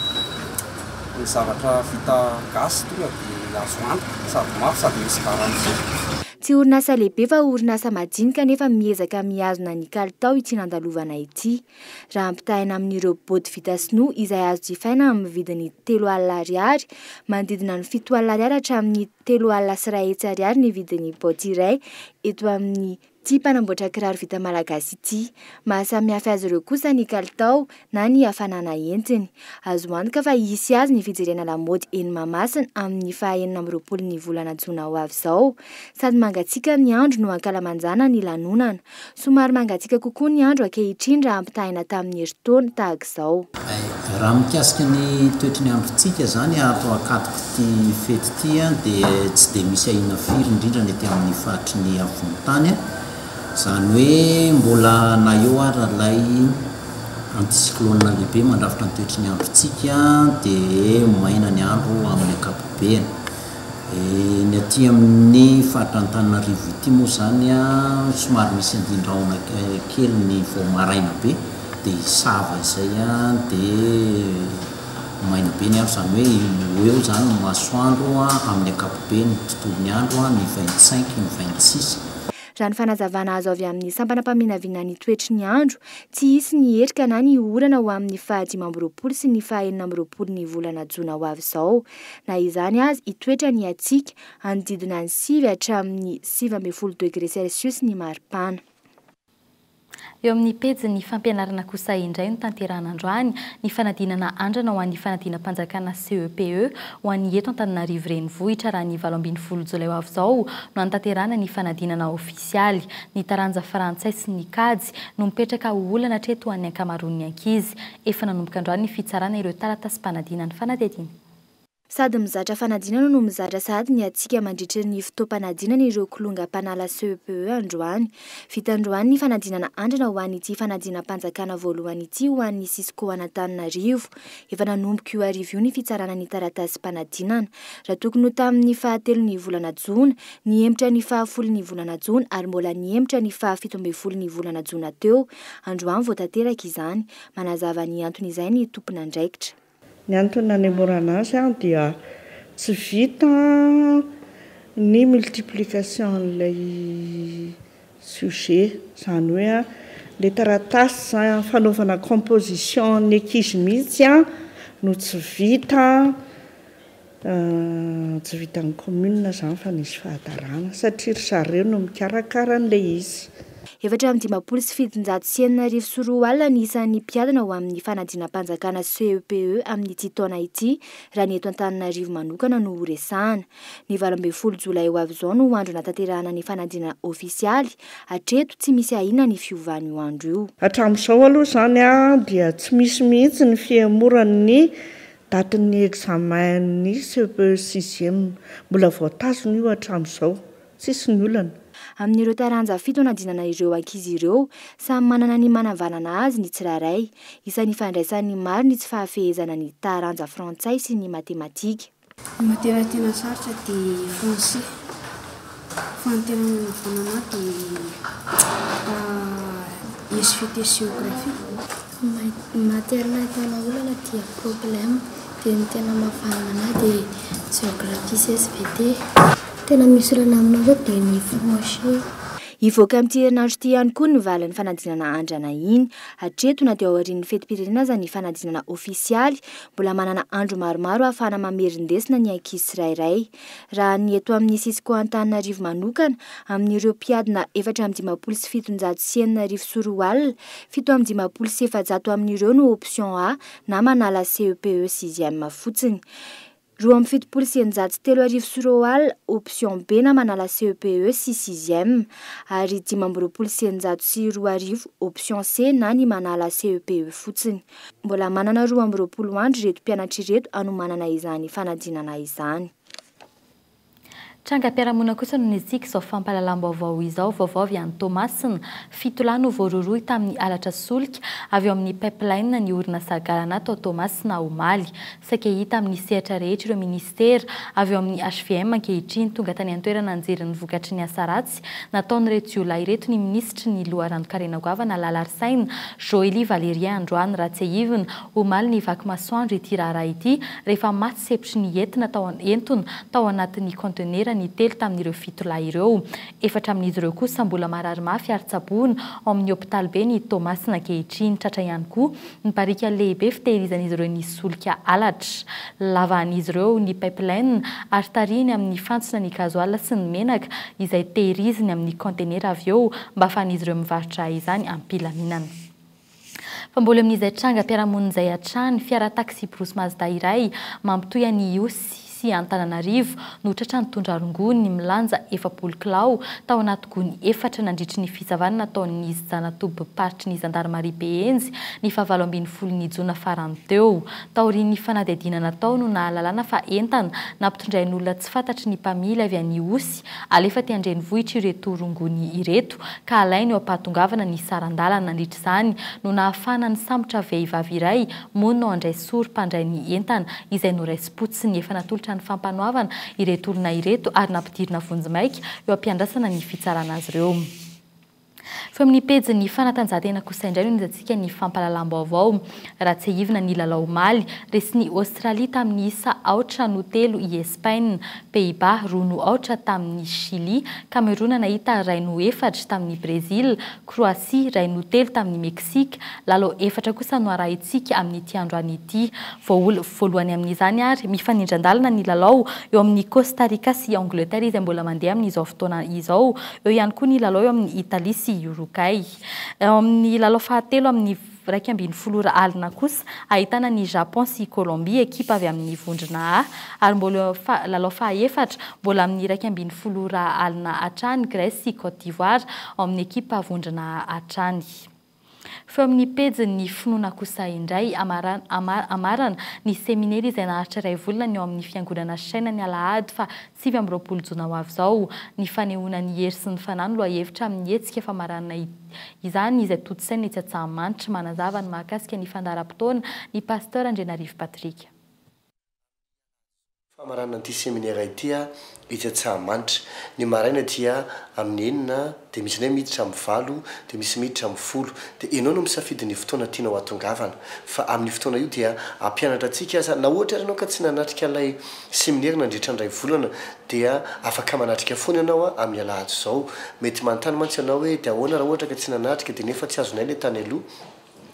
ny zavatra vita gasy tonga dia azo antoka sady mafy sady misy garantie. Tsy orinasa lehibe fa orinasa majinika anefa miezaka mihazona ny kalitao ity nandalovana ity. Raha ampitahaina amin'ireo bodo vita sinoa izay azo jifaina amin'ny vidiny telo alina ariary, manodidina ny fito alina ariary hatramin'ny telo alina sy iray hetsy ariary ny vidin'ny baoty iray eto amin'ity mpanamboatra kiraro vita malagasy ity. Maha samihafa azy ireo kosa ny kalitao na ny hafanana entiny. Azo antoka fa hisy azy ny fijerena lamaody eny Mahamasina amin'ny faha enina amby roapolo ny volana jona ho avy izao. Sady mangatsiaka ny andro no ankalamanjana ny lanonana. Somary mangatsiaka kokoa ny andro ankehitriny raha ampitahaina tamin'ny herintaona tahaka izao. Raha mikasika ny toetry ny androntsika izany ato Ankatok'ity fety ity dia tsy dia misy ahiana firy indrindra ny ety amin'ny faritry ny afovoan-tany. Izany hoe mbola na eo ary ilay anticyclone lehibe mandrafitra ny toetry ny androntsika dia maina ny andro amin'ny ankapobeny. Ny aty amin'ny faritra Antananarivo ity moa izany somary misy andin-drahona kely ny vao maraina be dia hisava izay dia maina be ny andro izany hoe ho eo izany ny masoandro amin'ny ankapobeny ny tontolon'ny andro ny vingt cinq ny vingt six. Raha ny fanazavana azo avy amin'ny sampana mpaminavina ny toetry ny andro, tsy hisy ny erika na ny orana ho amin'ny faha dimy amby roapolo sy ny faha enina amby roapolo ny volana jona ho avy izao. Na izany aza, hitoetra ny hatsiaka, hanodidina ny sivy hatramin'ny sivy ambin'ny folo degre celsius ny maripana. Eo amin'ny pejin'ny fampianarana kosa indray no tanterahana androany ny fanadinana andrana ho an'ny fanadinam-panjakana CEPE ho an'ny eto Antananarivo Renivohitra raha ny valo ambin'ny folo jolay ho avy izao no hanatanterahana ny fanadinana ofisialy ny taranja frantsay sy ny kajy no mipetraka ho olana hatreto ho an'ny ankamaroan'ny ankizy. Efa nanomboka androany ny fitsarana ireo taratasim-panadinan'ny fanadihadiana. Sady mizatra fanadinana no mizatra sahady ny hatsiaka mandritry ny fotoam-panadinana ireo kilonga mpanala CEPE androany. Vita androany ny fanadinana andrana ho an'ity fanadinam-panjakana voalohany ity ho an'ny Cisco an'Antananarivo. Efa nanomboka io hariva io ny fitsarana ny taratasim-panadinana. Raha tokony ho tamin'ny fahatelon'ny volana jona, nihemotra ny fahafolon'ny volana jona ary mbola nihemotra ny fahafito ambin'ny folon'ny volana jona teo. Androany vao tanteraka izany. Manazava ny anton'izay ny tompon'andraikitra. Ny antony nanemorana azy dia tsy vita ny multiplication an'ilay sujet, izany hoe ilay taratasy fanaovana composition ny ankizy mihitsy no tsy vita, Tsy vitan'ny commune zany fa nisy fahadarana satria ry zareo no mikarakara an'ilay izy. Efatra amby dimampolo sy fitonjato sy enina arivo sy roa alina ny isan'ny mpiadina ho amin'ny fanadinam-panjakana CEPE amin'ity taona ity raha ny eto Antananarivo manokana no horesahana. Ny valo ambin'ny folo jolay ho avy izao no andro hanatanterahana ny fanadinana ofisialy, hatreto tsy misy ahiana ny fiovan'io andro io. Hatramin'izao aloha izany dia tsy misy mihitsy ny fihemoran'ny Date ny examen ny cepe sixième. Mbola vao tazona io hatramin'izao. Tsisy ny olana. Amin'ireo taranja fito anadinana ireo ankizy ireo, samy manana ny manavanana azy ny tsirairay. Isan'ny fandraisan'ny maro ny tsy fahafehezana ny taranja frantsay sy ny matematika. Ny materia tena sarotra dia français. Fanantenana manokana ahy dia SVT géographie. Ny matière nahitana olana dia problème, dia ny tena mahavanona ahy dia géographie sy SVT. Tena misy olana aminao zao dia ny français. Hivoaka amin'ity herinandro ity ihany koa ny valin'ny fanadinana andrana iny. Hatreto, na dia ao aorian'ny fetim-pirenena aza ny fanadinana ofisialy, mbola manana andro maromaro ahafahana mamerin-desona ny ankizy tsirairay. Raha ny eto amin'ny sisiko Antananarivo manokana, amin'ireo mpiadina efatra amby dimampolo sy fitonjato sy enina arivo sy roa alina, fito amby dimampolo sy efajato amin'ireo no option A na manala CEPE sixième fotsiny. Roa amby fitopolo sy eninjato sy telo arivo sy roa alina, option B na manala CEPE sy sixième, ary dimy amby roapolo sy eninjato sy roa arivo, option C na ny manala CEPE fotsiny. Mbola manana roa amby roapolo andro ireto mpianatra ireto hanomanana izany fanadinana izany. Trangam-piarahamonina kosa no nisiaka izao fampahalalam-baovao izao. Vaovao avy any Toamasina, fito lahy no voarohirohy tamin'ny halatra solika avy ao amin'ny Pipeline ny orinasa Galana tao Toamasina omaly. Saika hita amin'ny sehatra rehetra ireo minisitera avy ao amin'ny hvm ankehitriny. Tonga tany an-toerana nijery ny vokatry ny asa ratsy Malagasy nataon'ireto jiolahy ireto ny minisitry ny loharanon-karena goavana Lalarisaina Joely Valérien androany raha tsiahivina omaly ny vaky masoandro ity raharaha ity rehefa maty sepitry ny entina tao entona tao anatin'ny contenera ny telo tamin'ireo fito lahy ireo efatra amin'izy ireo kosa mbola marary mafy ary tsaboina ao amin'ny hopitalibe ny Toamasina ankehitriny tratra ihany koa Ny barika lehibe fitehirizan'izy ireo ny solika halatra. Lavahan'izy ireo ny pipeline ary tarihiny amin'ny fantsona ny gazoala sy ny menaka izay tehiriziny amin'ny kaontenera avy eo mba ahafahan'izy ireo mivarotra izany am-pilaminana. Fa mbola eo amin'izay trangam-piarahamonina izay hatrany, fiara taksibrosy Mazda iray mampitohy an'i Ihosy sy Antananarivo no tratra nitondra rongony milanja efapolo kilao tao anaty gony efatra nandritry ny fisavana nataon'izy zana-tobim-paritry ny zandarimaria Behenjy ny fahavalo ambin'ny folon'ny jona farany teo. Taorian'ny fanadihadiana natao no nahalalana fa entana nampitondrain'olona tsy fantatry ny mpamily avy any Ihosy alefa aty an-drenivohitra ireto rongony ireto ka alainy eo am-pahatongavana ny saran-dalana. Nandritra izany no nahafahana nisambotra vehivavy iray mono handray sorom-pandray ny entana izay noraisim-potsiny. potsiny efa natolotra ny fampanoavana ireto olona ireto ary nampidirina vonjimaika eo am-piandrasana ny fitsarana azy ireo. Feo amin'ny pejin'ny fanatanjahantena kosa indray no nizatsika ny fampahalalam-baovao. Raha tsiahivina ny lalao omaly, resin'i Aostralia tamin'ny isa aotra no telo i Espaina, Pays-Bas roa no aotra tamin'i Shily, Kamerona nahita iray no efatra tamin'i Brezila, Kroasia iray no telo tamin'i Meksika. Lalao efatra kosa no arahintsika amin'ity androany ity. Voaola voalohany amin'izany ary mifanindran-dalana ny lalao eo amin'i Costa Rica sy Angleterre izay mbola mandeha amin'izao fotoana izao. Eo ihany koa ny lalao eo amin'i Italie sy Uruguay. Eo amin'ny lalao fahatelo amin'ny iraika ambin'ny folo ora alina kosa, ahitana ny Japon sy Colombie, ekipa avy amin'ny Vondrona A, ary mbola eo amin'ny lalao fahaefatra, mbola amin'ny iraika ambin'ny folo ora alina hatrany, Grèce sy Côte d'Ivoire, ao amin'ny ekipa Vondrona A hatrany. Feo amin'ny pejin'ny Ny Finoana Kosa indray, amarana ny seminera izay naharitra iray volana ny ao amin'ny Fiangonana Shina ny alahady faha sivy amby roapolo jona ho avy izao. Ny fanehoana ny hery sy ny fanahy no lohahevitra amin'ny hetsika famaranana izany izay tontosaina etsy Antsahamanitra. Manazava ny mahakasika ny fandaharam-potoana ny Pasteur Andrianarivo Patrick. Famaranana ity seminera ity etsy Antsahamanitra. Ny maraina dia amin'ny enina dia misy indray miditra amin'ny valo dia misy miditra amin'ny folo. Dia ianao no misafidy ny fotoana tianao hatongavana. Fa amin'io fotoana io dia hampianatra antsika aza. Na ohatra ary ianao ka tsy nanatrika ilay seminera nandritra ny iray volana dia afaka manatrika foana ianao amin'ny alahady izao. Mety manontany mantsy ianao hoe dia ahoana raha ohatra ka tsy nanatrika dia nefa tsy azonay ilay tany aloha?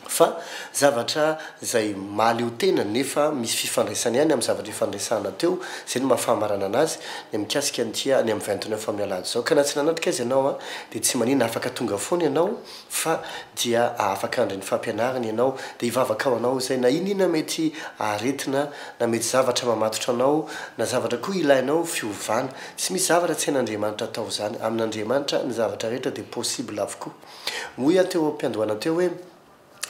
Fa zavatra izay mahaleotena nefa misy fifandraisany ihany amin'ny zavatra efa niresahana teo, izay no maha-fahamaranana azy, ny mikasika ny tia any amin'ny vintony efa amin'ny alahady izao. Ka na tsy nanatrika azy ianao an, dia tsy manina, afaka tonga foana ianao fa dia afaka handre ny fampianariny ianao, dia hivavaka ho anao izay, na inona mety aretina, na mety zavatra mamatotra anao, na zavatra koa ilainao fiovana. Tsy misy zavatra tsy hain'Andriamanitra atao izany. Amin'Andriamanitra ny zavatra rehetra dia possible avokoa. Hoy aho teo am-piandohana teo hoe,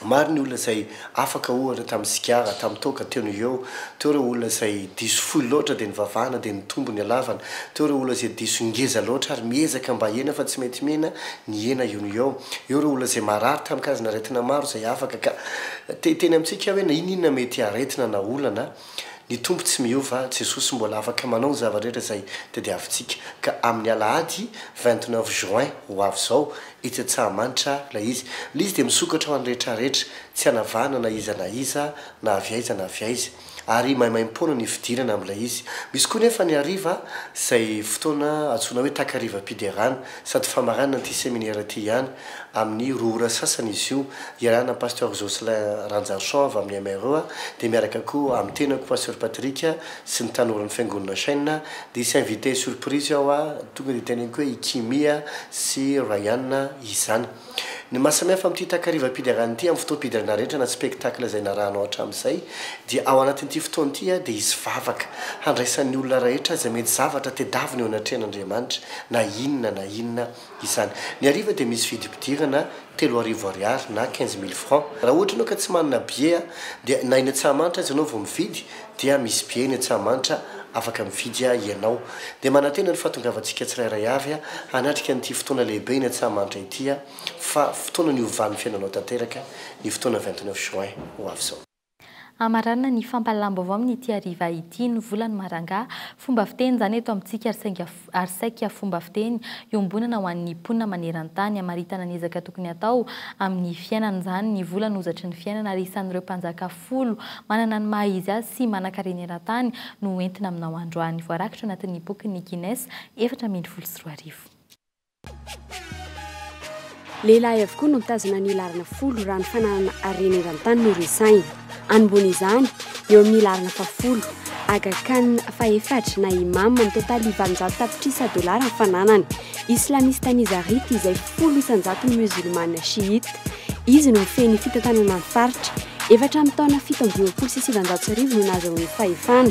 Maro ny olona izay afaka ohatra tamin'ny sigara, tamin'ny toaka, teo noho eo. Teo ireo olona izay diso fohy loatra dia nivavahana dia nitombo ny halavana. Teo ireo olona izay diso ngeza loatra ary miezaka mba hihena fa tsy mety mihena, nihena eo noho eo. Eo ireo olona izay marary tamin-kazin'aretina maro izay afaka ka te hiteny amintsika hoe na inona inona mety aretina na olana. Ny Tompo tsy miova, Jesosy mbola afaka manao ny zava-drehetra izay tadiavintsika, ka amin'ny alahady vingt neuf juin ho avy izao, etsy Antsahamanitra, ilay izy. Ilay izy dia misokatra ho an'ny rehetrarehetra, tsy hanavahana na iza na iza, na avy aiza na avy aiza. Ary maimaimpoana ny fidirana amin'ilay izy. Misy koa nefa ny hariva, izay fotoana antsoina hoe takarivam-piderana. Sady famaranana ity seminera ity ihany, amin'ny roa ora sasany izy io, iarahana an'i Pasteur Jocelyn Ranjarichon avy amin'ny MREA, dia miaraka koa amin'ny tenako Pasteur Patrick sy ny tanoran'ny Fiangonana Chêne, dia hisy invité surprise ao, tonga dia teneniko hoe i Kimmy sy Ryan izany. Ny maha samihafa amin'ity takarivam-piderana ity amin'ny fotoam-piderana rehetra na spectacle izay narahanao hatramin'izay dia ao anatin'ity fotoana ity dia hisy vavaka handraisan'ny olona rahetra izay mety zavatra tedavina eo anatrehan'Andriamanitra na inona na inona izany. Ny hariva dia misy vidim-pidirana telo arivo ariary na quinze mille francs. Raha ohatra ianao ka tsy manana billet dia na eny Antsahamanitra aza ianao vao mividy dia misy be eny Antsahamanitra afaka mifidy ianao. Dia manantena ny fahatongavantsika tsirairay avy hanatrika an'ity fotoana lehibe eny Antsahamanitra ity fa fotoana niovan'ny fiainanao tanteraka ny fotoana vingt neuf juin ho avy izao. Hamaranana ny fampahalalam-baovao amin'ity hariva ity ny volany marangà. Fomba fiteny izany eto amintsika ary saingy ary saika fomba fiteny iombonana ho an'ny mponina maneran-tany hamaritana ny ezaka tokony hatao amin'ny fiainana izany ny vola no zatry ny fiainana ary isan'ireo mpanjaka folo manana ny maha izy azy sy manankarena eran-tany no entina aminao androany voarakitra ao anatin'ny bokin'ny Guinness efatra ambin'ny folo sy roa arivo. Lehilahy avokoa no mitazona ny laharana folo raha ny fananana harena eran-tany no resahina. Anombohana izany eo amin'ny laharana fahafolo. Aga Khan fahefatra na Imam mitotaly valonjato tapitrisa dolara ny fananany. Islamista Nizarita izay folo isan-jato ny Musulmana Shiite. Izy no mifehy ny fitantanana ny faritra. Efa hatramin'ny taona fito amby roapolo sy sivanjato sy arivo no nahazoany ny fahefana.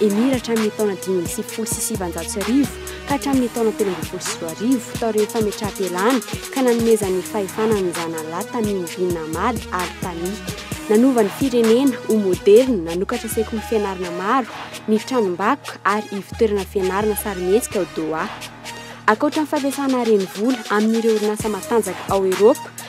Emira hatramin'ny taona dimy amby sivifolo sy sivanjato sy arivo ka hatramin'ny taona telo ambin'ny folo sy roa arivo, taorian'ny fametraham-pialany ka nanomezan'ny fahefana an'i Zanallah Tamim bin Hamad Al Thani. Nanova ny firenena ho moderina, nanokatra sekoly fianarana maro, ny tranom-bakoka ary ivon-toerana fianarana sarimihetsika ao Doha. Ankoatra ny fampiasana renivola amin'ireo orinasa matanjaka ao Eropa,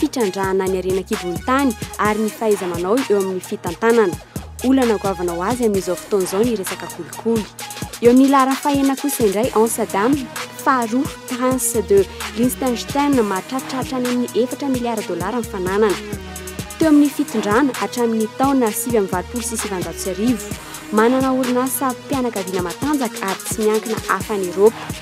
fitrandrahana ny harena an-kibon'ny tany ary ny fahaiza-manao eo amin'ny fitantanana. Olana goavana ho azy amin'izao fotoana izao ny resaka kolikoly. Eo amin'ny laharan'ny fahenina kosa indray Amsterdam, faharoa Prince de Liechtenstein mahatratitraritra any amin'ny efatra miliara dolara ny fananana. Teo amin'ny fitondrana hatramin'ny taona sivy amby valopolo sy sivanjato sy arivo, manana orinasa mpianakaviana matanjaka ary tsy miankina hafa any Eropa.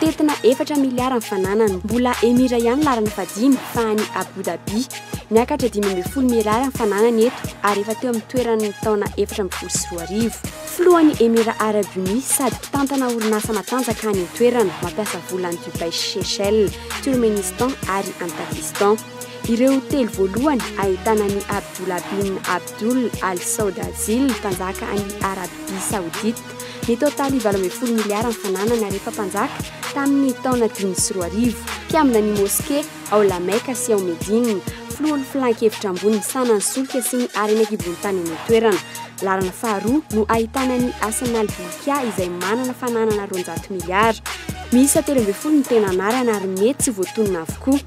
Tetina efatra miliara ny fananany. Mbola Emira ihany laharana fahadimy fa any Abu Dhabi. Niakatra dimy ambin'ny folo miliara ny fananany eto ary efa teo amin'ny toeran'ny taona efatra ambin'ny folo sy roa arivo. Filohan'ny Emirats Arabes Unis sady mpitantana orinasa matanjaka any an-toerana mampiasa vola any Dubai sy Seychelles, Turmenistan ary any Pakistan. Ireo telo voalohany ahitana an'i Abdullah bin Abdul Al Saud Al Zil, mpanjaka any Arabia Saodita, Ny totaly valo ambin'ny folo miliara ny fananany ary efa mpanjaka tamin'ny taona dimy sy roa arivo. Mpiambina ny moske ao La Mecca sy ao Médine, filoha ny filan-kevitra ambony misahana ny solika sy ny harena an-kibohontany any an-toerana. Lalana faharoa no ahitana ny Hassan al-Bolkiah izay manana fananana roanjato miliara. Miisa telo ambin'ny folo ny tena anarana ary mety tsy voatonona avokoa.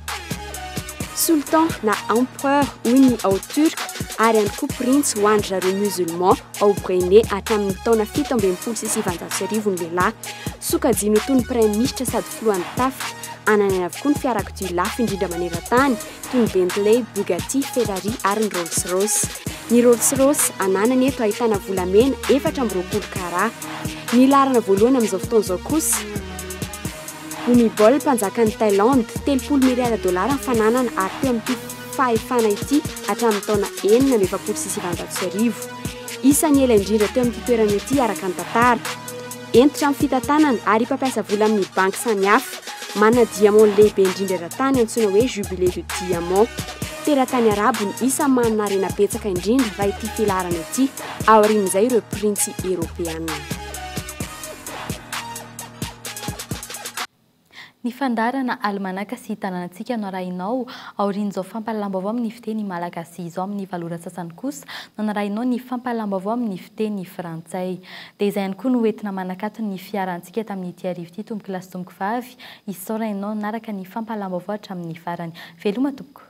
Sultan na Empereur hoy ny ao Turc ary ihany koa Printsy ho an-dry zareo Musulman. ao Brunei hatramin'ny taona fito ambin'ny folo sy sivanjato sy arivo ny lehilahy. Sokajiny ho toy ny praiminisitra sady filohan'ny tafika. Ananany avokoa ny fiarakodia lafo indrindra manerantany, toy ny Bentley, Bugatti, Ferrari ary ny Rolls Royce. Ny Rolls Royce ananany eto ahitana volamena efatra amby roapolo carats. Ny laharana voalohany amin'izao fotoana izao kosa, Bhumibol, mpanjakan'i Thailande, telopolo miliara dolara ny fananana ary teo amin'ity fahefana ity hatramin'ny taona enina amby efapolo sy sivanjato sy arivo. Isan'ny ela indrindra teo amin'ity toerana ity araka ny tantara. Hentitra amin'ny fitantanana ary mpampiasa vola amin'ny banky samihafa. Manana diamond lehibe indrindra eran-tany antsoina hoe Jubilé de Diamond. Teratany Arabo ny isan'ny manana harena betsaka indrindra raha ity filaharana ity, aorian'izay ireo printsy eropeana. Ny fandaharana alimanaka sy tanànantsika no arahinao aorian'izao fampahalalam-baovao amin'ny fiteny malagasy izao. Amin'ny valo ora sasany kosa no anarahinao ny fampahalalam-baovao amin'ny fiteny frantsay. Dia izay ihany koa no hoentina manakatony ny fiarantsika tamin'ity hariva ity tompokolahy sy tompokovavy. Isaorana ianao naraka ny fampahalalam-baovao hatramin'ny farany. Veloma tompoko!